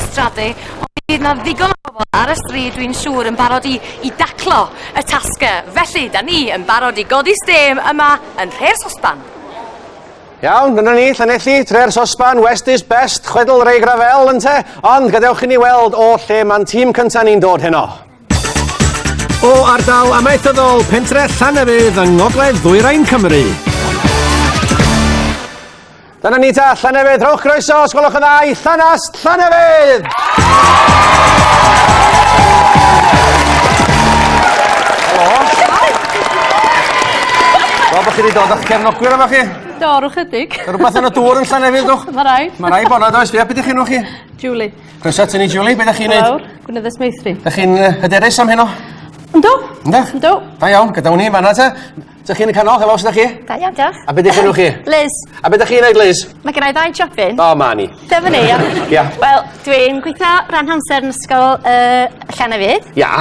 strate ond bydd 'na ddigon o bobl ar y stryd dwi'n siŵr yn barod i, i daclo y tasg. Felly, da ni yn barod i godi stêm yma yn Nhre'r Sosban. Iawn, dyna ni, Llanelli, tre'r sosban, West is best, chwedl Ray Gravell, ynte? Ond gadewch i ni weld o lle mae'n tîm cyntaf ni'n dod heno. O ardal amaethyddol pentre Llanefydd yng ngogledd ddwyrain Cymru. Dyna ni ta, Llanefydd, rhowch groeso os gwelwch yn dda i Llanast Llanefydd! Wel, bod chi wedi dod o'ch cefnogwyr efo chi. Do, rwy'n chydig. Mae rhywbeth yn y dŵr yn Llanefydd, dwch. Mae rai. Mae rai bod na, does. Fia, beth ydych chi'n chi? Julie. Croeso at ni, Julie. Beth ydych chi'n neud? Lawr, gwneud meithrin. Ydych chi'n hyderus am heno? Ynddo. Ynddo? Ynddo. Da iawn, gyda wni, fanna te. Dych chi'n y canol? Helo, sut ydych chi? Da iawn, diolch. A beth ydych chi'n chi? Liz. A beth ydych chi'n gwneud, Liz? Mae gen i ddau job fynd. O, ma ni. Dyma ni, ia. Ia. Wel, dwi'n gweithio rhan hamser yn ysgol uh, Llanefydd. Ia.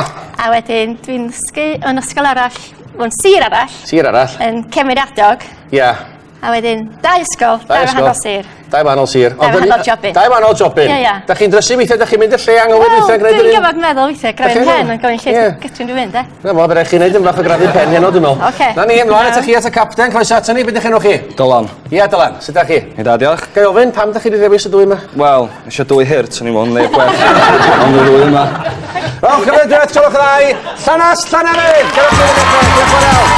A wedyn, dwi'n dysgu yn ysgol arall, o'n sir arall. Sir arall. Yn Cemeriadog. Ia. A wedyn, dau ysgol, dau Dau ysgol. wahanol sir. Dau wahanol sir. Dau wahanol jobyn. Dau wahanol jobyn. Ie, ie. Da chi'n drysu weithiau, da chi'n mynd y lle anghywir Wel, weithiau gwneud dwi'n yr un... gyfod meddwl weithiau, Dach chi'n grafyn pen, meddwl? ond gofyn lle Ie. ti- gydwyn dwi'n mynd, e? Na fo, fe rai chi wneud yn fach o grafu pen heno, dwi'n meddwl. Ocê. Na ni, ymlaen Iawn. ata chi at y capten, croeso ato ni, beth ych enw chi? Dylan. Ia, Dylan, sut da chi? Yn da, diolch. Ga i ofyn, pam da chi wedi dewis y dwy yma? Wel, Isio dwy hurt swn i me'wl neu gwell am y ddwy yma. Rowch gyfer y duet Culhwch y Ddau, Llanast Llanefydd! Gyda ti yn y duet, diolch yn fawr iawn.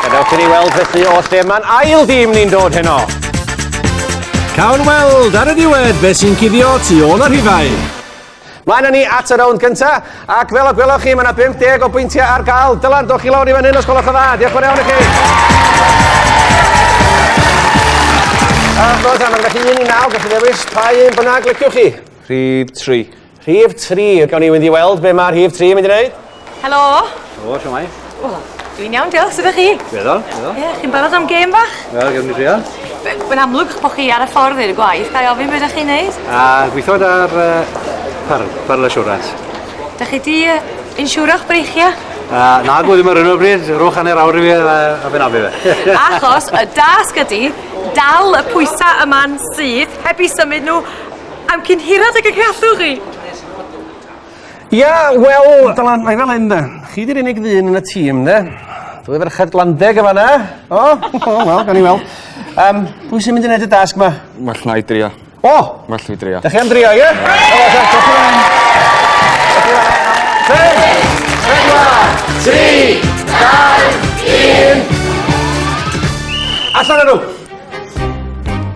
Gadewch i ni weld felly o lle mae'n ail dîm ni'n dod heno. Cawn weld ar y diwedd beth sy'n cuddio tu ôl y rhifau. Mae yna ni at y rownd gynta, ac fel y gwelwch chi, mae yna 50 o bwyntiau ar gael. Dylan, dwch chi lawr i fan hyn os gwelwch yn dda. Diolch yn iawn i chi. A chwrs, mae'n gallu un i naw, gallu ddewis pa un bynnag liciwch chi. Rhif 3. Rhif 3, gawn ni fynd i weld be mae rhif 3 yn mynd i wneud. Helo! Helo, siwmai? O, dwi'n iawn, diolch, sut ydych chi? Diddol, diddol. Ie, chi'n barod am gêm bach? Wel, gym ni drio. Mae'n amlwg bod chi ar y ffordd i'r gwaith, gael ofyn beth ydych chi'n neud? A gweithod ar par, par assurance. Dych chi di uh, insiwro'ch breichiau? A, na, gwy ddim ar hyn o bryd, rhowch hanner awr i fi a, a fe na fi fe. Achos y dasg ydy dal y pwysau yma'n syth heb i symud nhw am cyn hirad ag y gallwch chi. Ia, wel... Dylan, mae fel hyn 'de. Chi 'di'r unig ddyn yn y tîm 'de? Dwy ferched glandeg yn fan 'na. O! O wel, gawn ni weld. Yym, pwy sy'n mynd i neud y dasg 'ma? Well na i drio. O! Well fi drio. Dach chi am drio, ie? Allan â nhw!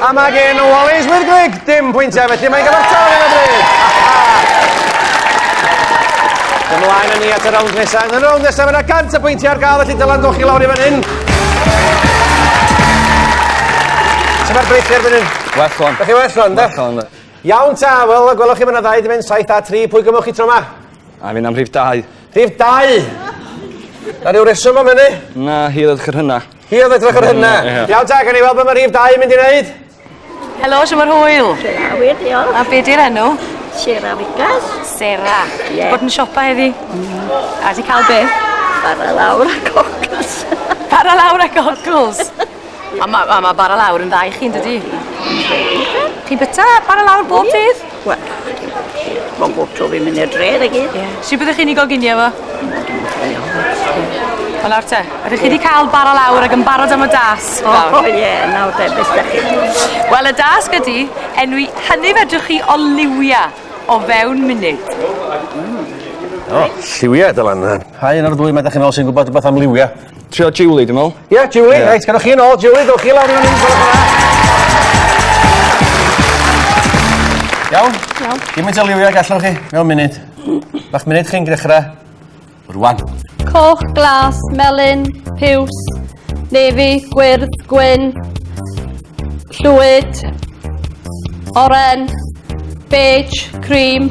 A mae gen Wallace with Glig dim pwyntiau felly mae'n gyfartal yn y bryd. Ymlaen yn ni at y rownd nesaf. Yn y rownd nesaf mae yna 100 y pwyntiau ar gael felly dylan goch i lawr i fan hyn. Sut mae'r breichiau erbyn hyn? Well on. Ydych chi well on, da? Well on, da. Iawn ta, wel, gwelwch chi mae'n ddau di mynd 7 a 3, pwy gymwch chi tro yma? A fi'n am rhif 2. Rhif 2? Na rhyw reswm am hynny? Na, hi ddod chyr hynna. Hi oedd edrych ar hynna. Iawn ta, gan i weld beth mae rhif 2 yn mynd i wneud. Helo, siw mae'r hwyl. Siera, wir, diolch. A be di'r enw? Siera Figas. Sera. Ie. Bod yn siopa heddi. Mm. A di cael beth? Bara lawr a cockles. Bara lawr a cockles. A mae ma, ma bara lawr yn dda i chi, yn dydi? Chi'n byta bara lawr bob dydd? Wel, mae'n bob tro fi'n mynd i'r dref i gyd. Ie. Sut byddech chi'n ei goginio fo? Wel nawr te, ydych chi wedi cael bara lawr ac yn barod am y dasg nawr? O ie, nawr te, beth da chi? Wel, y dasg ydy enwi hynny fedrwch chi o liwia o fewn munud. O, lliwia, dylan. Pa un o'r ddwy mae da chi'n ôl sy'n gwybod rhywbeth am liwia? Trio Julie dwi me'wl. Ie Julie reit gynnoch chi yn ôl Julie dowch chi lawr i fynny gwelwch yn dda. Iawn? Iawn. Gymint o liwia ag allwch chi mewn munud. Ma'ch munud chi'n dechra rŵan. Coch, glas, melyn, piws, nefi, gwyrdd, gwyn, llwyd, oren, beige, cream,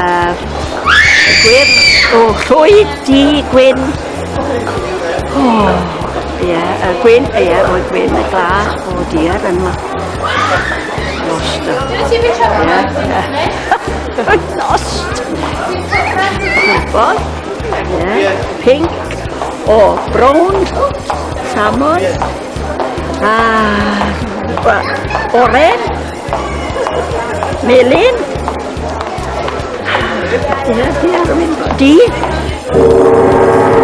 Yr gwir o llwy di gwyn. O, ie, y gwyn, ie, o'r gwyn, y glas o dier yn ma. Lost. Ie, ie. Lost. Gwybod? Ie, pink. O, brown. Salmon. Ah, oren. Melin. Di.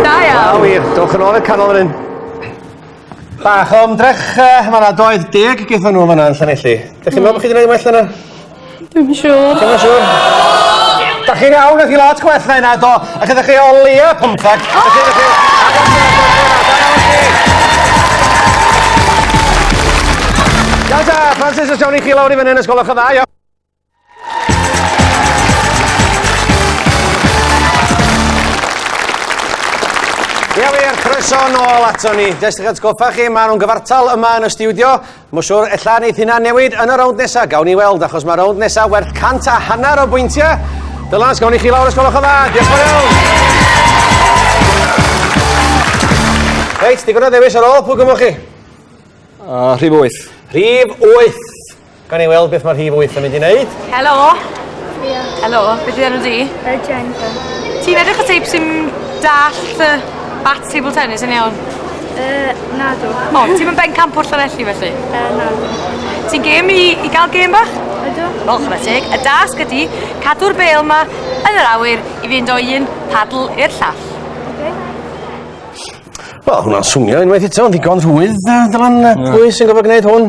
Da iawn. wir. Dowch yn ôl i'r canol fan hyn. Bach o ymdrech, uh, mae yna doedd deg y gyda nhw fan yna yn Llanelli. Dych chi'n meddwl bod chi wedi gwneud well yna? Dwi'n siŵr. Dwi'n siŵr. Da chi'n iawn, ydych chi lot gwell na yna, do. A gyda chi o leia pymtheg. Iawn ta, Francis, os iawn i chi lawr i fyny yn ysgol o'ch y dda, iawn. Ia wir, croeso nôl ato ni. Jyst eich atgoffa chi, maen nhw'n gyfartal yma yn y stiwdio Mae'n siwr, ella neith hynna newid yn y rownd nesa, gawn ni weld, achos mae rownd nesa werth cant a hanner o bwyntiau. Dylans, gawn ni chi lawr os gwelwch yn dda. Diolch yn iawn. Reit, digon o ddewis ar ôl, pwy gymwch chi? Uh, rhif 8. Rhif 8. Gan i weld beth mae'r rhif 8 yn mynd i wneud. Helo. Priya. Helo, beth yw enw di? Jennifer. Ti'n edrych o teip sy'n dallt uh, bat table tennis yn iawn? Uh, na dw. O, ti'n mynd ben camp o'r Llanelli felly? Uh, na dw. Ti'n gêm i, i gael gêm bach? Ydw. O, chwna teg. Y dasg ydy cadw'r bel yma yn yr awyr i fynd o un padl i'r llall. Wel, hwnna'n swnio unwaith eto, yn ddigon rhwydd, Dylan, pwy sy'n gofod gwneud hwn?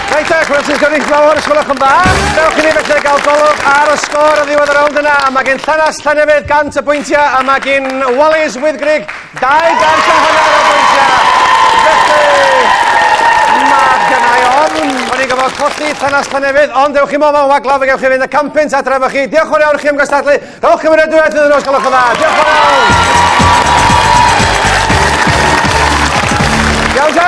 Reit, ac Welsh Gynulleidfao'r Ysgol Ochan Bach. Dewch i ni felly gael golwg ar y sgôr yn ddiwedd y rownd yna. A mae gen Llanast Llanefydd 100 y bwyntiau a mae gen Wallis Wyddgrug 200 a hanner o bwyntiau. Felly, mae gennau ofn. O'n i'n gofod colli Llanast Llanefydd, ond dewch i mo mewn waglaw fe gewch chi fynd y campynt adre efo chi. Diolch o'r iawn i chi am gystadlu. Rhowch i mi redwywaith iddyn nhw os gwelwch yn dda. Diolch o'r iawn. Iawn ta?